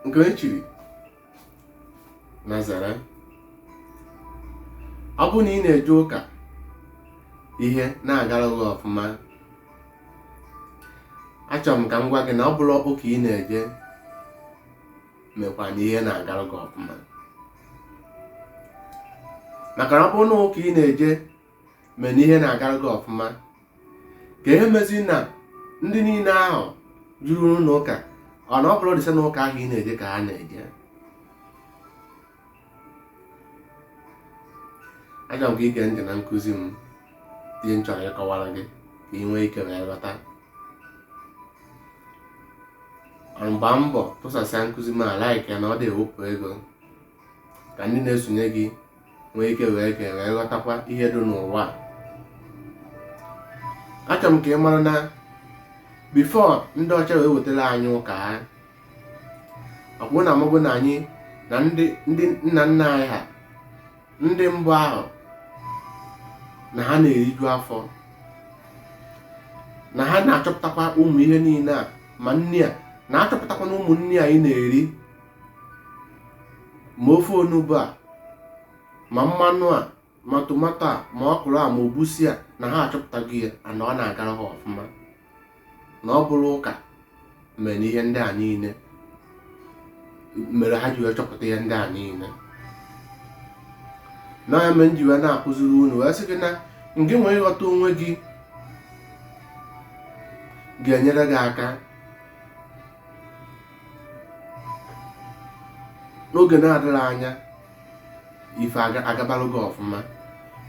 nke e chiri Nazareth ọ bụ na ị na-eje ụka ihe na-agara gị ọfụma achọrọ m ka m gwa gị na ọ bụrọ ụka ị na-eje mekwa na ihe na-agara gị ọfụma maka na ọ bụrụ na ụka ị na-eje mee na ihe na-agara gị ọfụma ka ihe mezi na ndị niile ahụ juru n'ụlọ ụka ọ na ọ bụrọ the same ụka ahụ ị na-eje ka ha na-eje achọrọ m ka i gee ntị na nkụzi m ihe m chọrọ ịkọwara gị ka ị nwee ike wee ghọta gbaa mbọ tụsasịa nkụzi m like ya na ọ dị ewepụ ego ka ndị na-esonye gị nwee ike nwee ike wee ghọtakwa ihe dị n'ụwa achọrọ m ka ị mara na before ndị ọcha wee wetara anyị ụka ha ọ bụ na mbụ na anyị na ndị nna nna anyị ha ndị mbụ ahụ na ha na-eriju afọ na ha na-achọpụtakwa ụmụ ihe niile a ma na ha na-achọpụtakwa na ụmụ nri anyị na-eri ma ofe onugbu a ma mmanụ a ma tomato a ma ọkwụrụ a ma egwusi a na ha achọpụtago ya na ọ na-agara ha ọfụma na ọ bụrọ ụka mere ihe ndị a niile mere ha ji wee chọpụta ihe ndị a niile na ya mere m ji wee na-akụziri unu wee sị gị na ngị nwee ịghọta onwe gị ga-enyere gị aka n'oge na-adịghị anya ife agabalụ gị ọfụma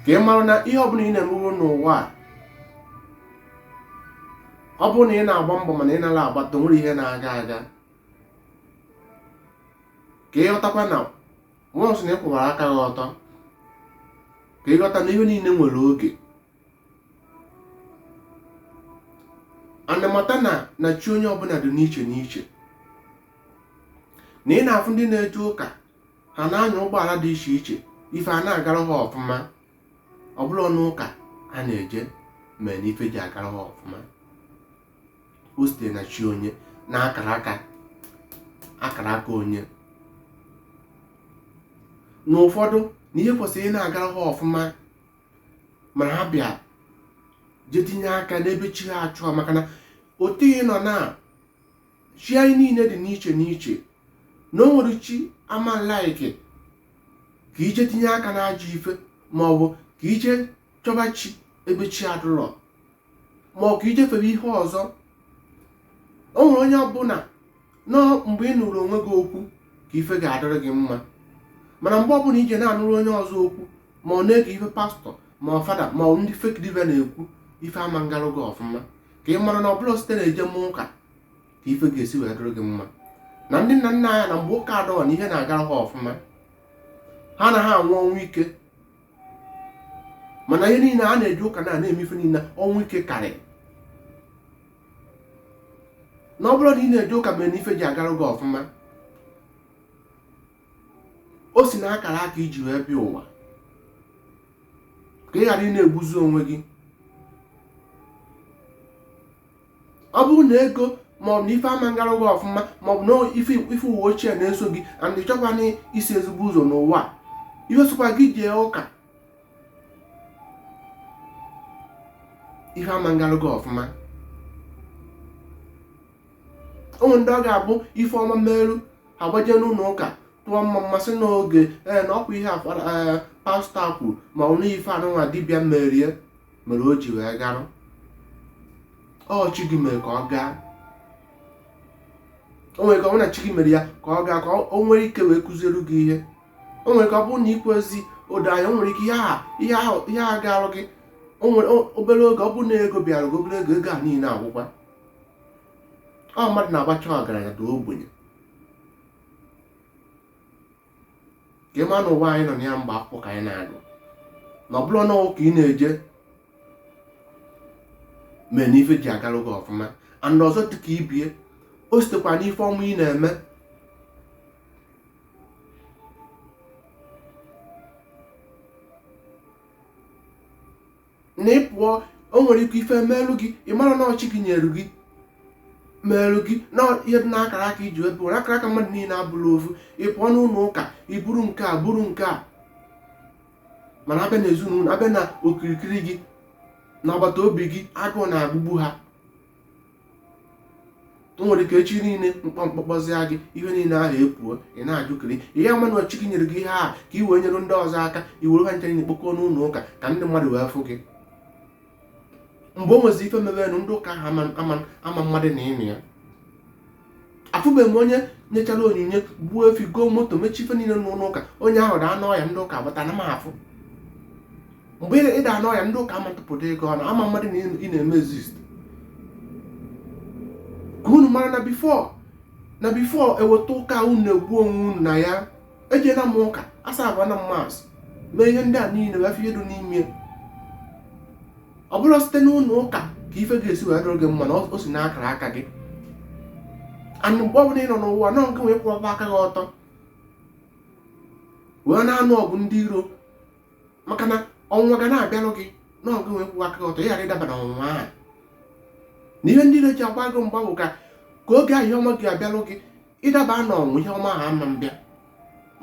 ka ị mara na ihe ọbụla ị na-emewo n'ụwa a ọ bụrụ na ị na-agba mbọ mana ị nara agbata o nwere ihe na-aga aga ka ị ghọtakwa na once na ị kwụwara aka gị ọtọ ka ị ghọta na ihe niile nwere oge a na-amata na na chi onye ọbụla dị n'iche n'iche na ị na-afụ ndị na-eje ụka ha na-anya ụgbọala dị iche iche ife a na-agara ha ọfụma ọ bụrọnụ ụka ha na-eje mere na ife ji agara ha ọfụma o sitere na chi onye na akara aka akara aka onye na ụfọdụ na ihe kwesịrị ị na-agara ha ọfụma mana ha bịa je tinye aka n'ebe chi ha achọọ maka na otu anyị nọ na chi anyị niile dị n'iche n'iche na o nwere chi ama like ka i je tinye aka n'ajọ ife ma ọ bụ ka i je chọba chi ebe chi adụrọ ma ọ ka i je fere ihe ọzọ o nwere onye ọbụla na ọ mgbe ị nụrụ onwe gị okwu ka ife ga-adịrị gị mma mana mgbe ọbụla i je na-anụrụ onye ọzọ okwu ma ọ na-ege ife pastọ ma ọ fada ma ọ ndị fake dibịa na-ekwu ife ama ngarụ gị ọfụma ka ị mara na ọ bụrọ site na eje m ụka ka ife ga-esi wee dịrị gị mma na ndị nna nna anyị na mgbe ụka adịrọ na ihe na-agara ha ọfụma ha anaghị anwụ ọnwụ ike mana ihe niile a na-eje ụka na na-eme ife niile ọnwụ ike karị na ọ bụrọ na ị na-eje ụka mere na ife ji agara gị ọfụma o si na akara aka i ji wee bịa ụwa ka ị ghara ị na-egbuzi onwe gị ọ bụrụ na ego maọbụ na ife ama ngara gị ọfụma maọbụ na ife ife ụwa ochie na-eso gị and ị chọkwa na isi ezigbo ụzọ n'ụwa a, ihe sọkwa gị jee ụka ife ama ngara gị ọfụma o nwe ndị ọ ga-abụ ife ọma meru ha gbaje n'ụlọ ụka tụọ mma mma sị n'oge ee na ọkwa ihe a fada ee, pastọ a kwuru ma ọ na ife a nụnwa dibịa meere mere o ji wee garụ ọ chi gị mere ka ọ gaa o nwere ike ọ bụ na chi gị mere ya ka ọ gaa ka o nwere ike wee kụziere gị ihe o nwere ike ọ bụrụ na i kwezi o do anya o nwere ike ihe a ihe ahụ ihe a garụ gị o nwere obere oge ọ bụrụ na ego bịara gị obere oge ego a niile agwụkwa ọ mmadụ na-abacha ọgaranya daa ogbenye ka ị ma na ụwa anyị nọ na ya mgbe akwụkwọ ka anyị na-agụ na ọ bụrọ na ụka ị na-eje mee na ife ji agarụ gị ọfụma and ọzọ dịka ibie o sitekwa n'ife ọma ị na-eme na ị pụọ o nwere ike ife merụ gị ị mara na ọ chi gị nyere gị merụ gị na ihe dị n'akara aka i ji wee pụ na akara aka mmadụ niile abụrọ ofu ị pụọ n'ụlọ ụka i buru nke a buru nke a mana a bịa na ezinụlọ a bịa na okirikiri gị n'agbata obi gị agụụ na-agụgbu ha nwere ike echi niile mkpọmkpọkpọzịa gị ihe niile ahụ epuo ị na-ajụkiri ihe ama na ọ chi gị nyere gị ihe ahụ ka i wee nyere ndị ọzọ aka i were ha ncha niile kpokọọ n'ụlọ ụka ka ndị mmadụ wee fụ gị mgbe o nwezi ife merenụ ndị ụka ahụ ama amadụ na ị nọ ya afụbeghị m onye nyechara onyinye gbuo efi goo moto mechie ife niile n'ụlọ ụka onye ahụ daa n'ọya ndị ụka gbata na m afụ mgbe ị daa n'ọya ndị ụka ama tụpụta ego ọnụ ama amadụ na ị na-eme exist ka unu mara na before na before e weta ụka unu na-egbu onwe unu na ya ejela m ụka asavụọ na mass mee ihe ndị a niile wee fụ ihe dị n'ime ọ bụrọ site n'ụnọ ụka ka ife ga-esi wee dịrị gị mma na o si n'akara aka gị anụ mgbe ọbụla ị nọ n'ụwa nọ nke wee kwụọba aka gị ọtọ wee na-anụ ọgụ ndị iro maka na ọnwụnwa ga na-abịarụ gị nọ nke wee kwụwa aka gị ọtọ ị ghara ịdaba na ọnwụnwa ahụ na ihe ndị iro ji agba gị mgba bụ ka ka oge ahụ ihe ọma ga abịarụ gị ị daba na ọnwụ ihe ọma ahụ ama mbịa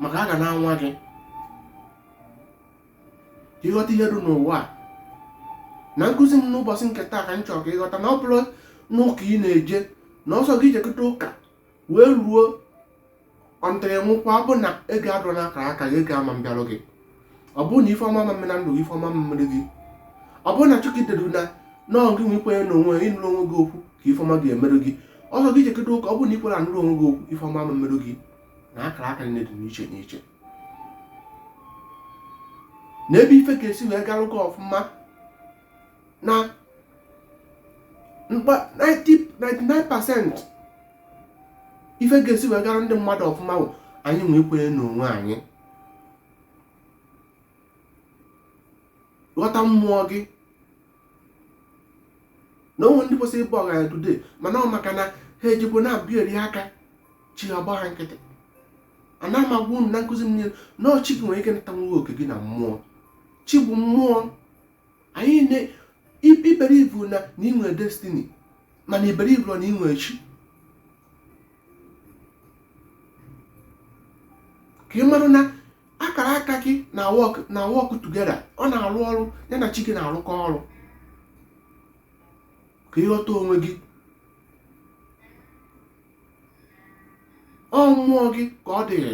maka a ga na-anwa gị ka ị ghọta ihe dị n'ụwa a na nkụzi m n'ụbọchị nke taa ka m chọrọ ka ị ghọta na ọ bụrọ n'ụka ị na-eje na ọ sọ gị jekọta ụka wee ruo until ị nwụkwa ọ bụ na ego adịrọ n'akara aka gị ego ama mbịarụ gị ọ bụrụ na ife ọma ama mme na ndụ gị ife ọma ama mmerụ gị ọ bụrụ na chukwu delu na ọọ gị inwe ikwenye na onwe ịnụrụ onwe gị okwu ka ife ọma ga-emerụ gị ọ sọ gị jekọta ụka ọ bụrụ na i kwerọ anụrụ onwe gị okwu ife ọma ama mmerụ gị na akara aka dị n'iche n'iche na ebe ife ga-esi wee garụ gị ọfụma na 99% ife ga-esi wee gara ndị mmadụ ọfụma bụ anyị inwe ikwenye n'onwe anyị ghọta mmụọ gị na o nwe ndị kwesịrị ịbụ ọgaranya today mana ọ maka na ha ejikwa na-abịa eri aka chi ha gbaa ha nkịtị ana m agwa unu na nkụzi m niile na ọ chi gị nwere ike ịnatanwu gị oke gị na mmụọ chi bụ mmụọ anyị na i buru ibu na na inwe destiny mana i burọ ibu na inwe chi ka ị mara na akara aka gị na-work na-work together ọ na-arụ ọrụ ya na chi gị na-arụkọ ọrụ ka ị ghọta onwe gị ọ mmụọ gị ka ọ dịrị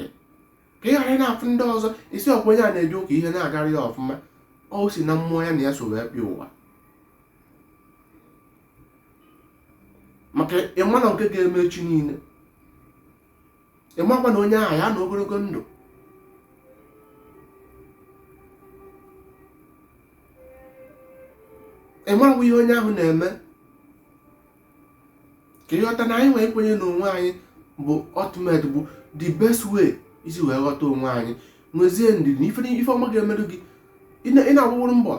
ka ị ghara na-afụ ndị ọzọ ị sị ọ kwa onye a na-eje ụka ihe na-agara ya ọfụma ọ si na mmụọ ya na ya so wee bịa ụwa maka ị marọ nke ga-eme echi niile ị makwa na onye ahụ ya-anọ ogologo ndụ ị marakwa ihe onye ahụ na-eme ka ị ghọta na anyị inwe ikwenye na onwe anyị bụ ultimate bụ the best way i si wee ghọta onwe anyị nwezie ndidi na ife ife ọma ga-emerụ gị ị na- ị na-agbaworo mbọ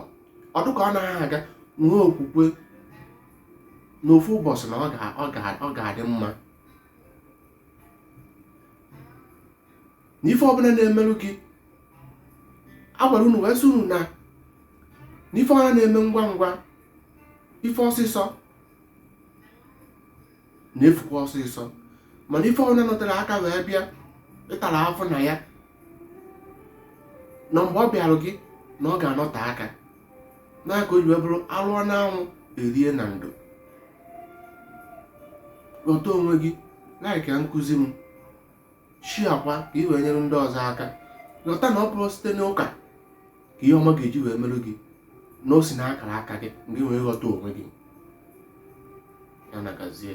ọ dụ ka ọ naghị aga nwee okwukwe na ofu ụbọchị na ọ ga- ọ ga- ọ ga-adị mma na ife ọbụna na-emerụ gị agwara unu wee sị unu na na ife ọbụna na-eme ngwa ngwa ife ọsịsọ na-efukwa ọsịsọ mana ife ọbụna nọtere aka wee bịa ị tara afụfụ na ya na mgbe ọ bịarụ gị na ọ ga-anọte aka na ka o ji wee bụrụ alụọ n'anwụ erie na ndo ghọta onwe gị like nkụzi m sharekwa ka ị wee nyere ndị ọzọ aka ghọta na ọ bụrọ site n'ụka ka ihe ọma ga-eji wee merụ gị na o si n'akara aka gị mgbe ị wee ghọta onwe gị ya na gazie